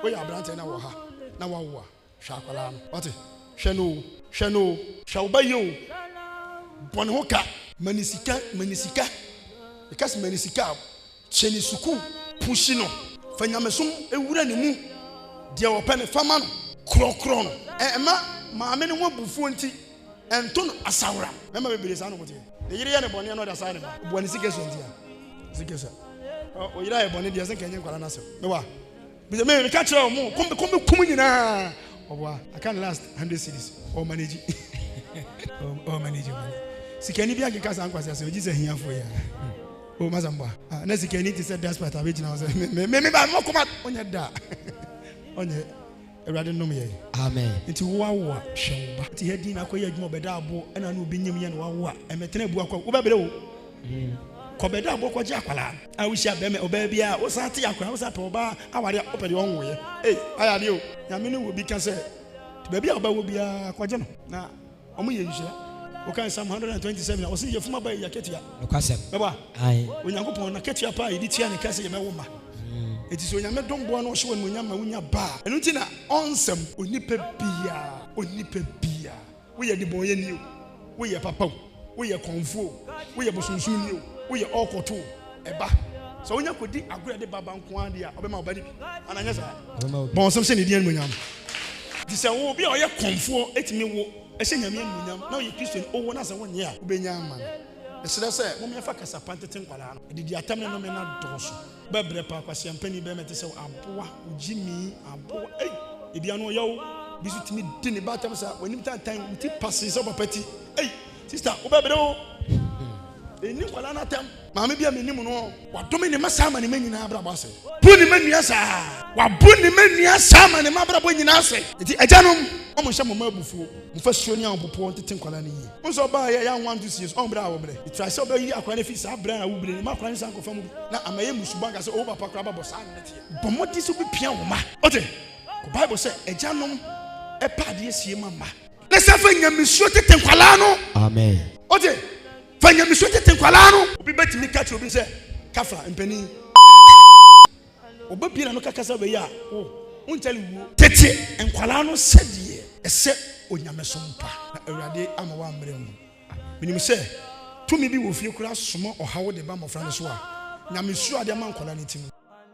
Woyɛ aberanteɛ na wɔ ha na woawo a, hwɛ akwadaa no. Wate? Hwɛ no o. Hwɛ no o. Hwɛ wo ba yie o. Bɔ ne ho ka. Ma no sika. Ma no sika. Meka sɛ ma no sika a, hyɛ no sukuu. Pushi no. Fa nyamesom wura ne mu. Deɛ ɔpɛ no, fa ma no. Korɔkorɔ no. Ɛmma maame no ho abufuo nti, Ɛnto no asaworam. Mmarima bebree saa na wɔn teɛ. Ne yere yɛ no bɔne a na ɔde asae ne ba. Ɔboa ne sika sua nti a. Sika sua. Ɔyere ayɛ bɔne deɛ sɛ nka ɛnyɛ nkwadaa no asɛm. Me wa. Bisa me meka kyerɛ wɔn mo kom kom kum nyinaa. Ɔboa. Aka ne last hundred cities. Ɔwɔ manage. Ɔwɔ manage wɔn. Sikani bi ankeka saa nkwasi asɛm gye sɛ ahiafoɔ yi a. Ɔwɔ ma sɛm boa. Ah, na sikani te sɛ despot a bɛgyina hɔ sɛ me me me ba mo koma ɔnyɛ da. Ɔnyɛ. Awurade nom yɛn. Amen. Nti wo awo a, hwɛ wo ba. Te ha din na akɔ yɛ adwuma wɔ bɛda aboɔ ɛna ano obi nyim yɛ na wawo a, ɛmɛtena abu akɔ wo bɛbrɛ o. Kɔ bɛda aboɔ kɔ gye akwadaa a wo hyia bɛma ɔbaa bi a wo san te akora wo san pɛ ɔbaa aware a wo pɛ deɛ ɔnwo yɛ ei ayɛ adeɛ o. Nyame ne wɔ bi ka sɛ baabi a wo bɛwo biara kɔ gye no na. Ɔmo yɛ nhyira. Wo kan Psalm hundred and twenty seven a, ɔse yɛfunu aba yɛ akatua. Nokwasɛm. Bɛbɔ a, Ae. Onyankopɔn n'akatua pa a yɛde tua no ka sɛ yɛbɛwo mma. Enti sɛ Onyame dom boa na ɔhyɛ wo animuonyam ma wonya ba a, ɛno nti na ɔnsɛm. Onipa biaa, onipa biaa, woyɛ debɔnyɛni o, woyɛ papa o, woyɛ kɔmfoɔ o, woyɛ bosomsomni o, woyɛ ɔɔkɔto o, ɛba. Sɛ wonya kɔdi agorɔ de baba nko ara deɛ a, ɔbɛma ɔba no bi. Ana nyɛ saa? Bɔ nsɛm hyɛ ne din animuonyam. Nti sɛ wo obi a ɔyɛ kɔmfoɔ ɛtumi wo ɛhyɛ Nyame animuonyam na ɔyɛ Kristo ni, owo na sɛ wonyɛ a, wobɛnya ama no. Meserɛ sɛ momyɛ fa kasa pa ntete nkwadaa no. Adidi atɛm ne nome no adɔɔso. Bɛbrɛ paa kwasia panin bɛɛma ɛte sɛ wo aboa wo gyimii aboa ei ebi ano ɔyɛ wo. Bi so tumi di ne ba atɛm saa wanim tantan wo ti pasee sɛ wo papa ti ei sister wobɛbrɛ o. Ɛnni nkwadaa no atɛm. Maame bi a menim no, wadome ne mma saa ma ne mma nyinaa abrabɔ ase. Bu ne mma nnua saa. Wabu ne mma nnua saa ma ne mma abrabɔ nyinaa ase. Enti agyanom, wɔn nhyɛ mo mma abufuo. Mofa suo ne ahopopoɔ ntete nkwadaa no yie. Wohu sɛ ɔbaa a ɛyɛ awowa nto sie so, ɔn berɛ a awobrɛ. Try sɛ wobɛyi akwadaa no afiri saa berɛ a awobrɛ no mu ma akwadaa no san kɔfa mu bi na ama ɛyɛ mmusu bɔ anka sɛ ɔwo papa koraa ababɔ saa na ɛteɛ. Bɔ mmɔden sɛ wobɛpia wo mma. Wote? Kɔ Bible sɛ agyanom ɛpa adeɛ sie ma mma. Na san fa nyamesuro tete nkwadaa no. Amen. Wote? Fa nyamesu tete nkwadaa no. Obi betumi ka kyerɛ obi sɛ, Kafra, mpanin. Ɔba pii na no ka kasa wei a, wo, wonkyɛre wuo. Tete nkwadaa no sɛdeɛ ɛsɛ onyamesom pa. Na Awurade ama woammrɛ mu. Menim sɛ tumi bi wɔ fie koraa soma ɔhaw de ba mmɔfra no so a, nyamesuro a ɔde ama nkwadaa no ti no.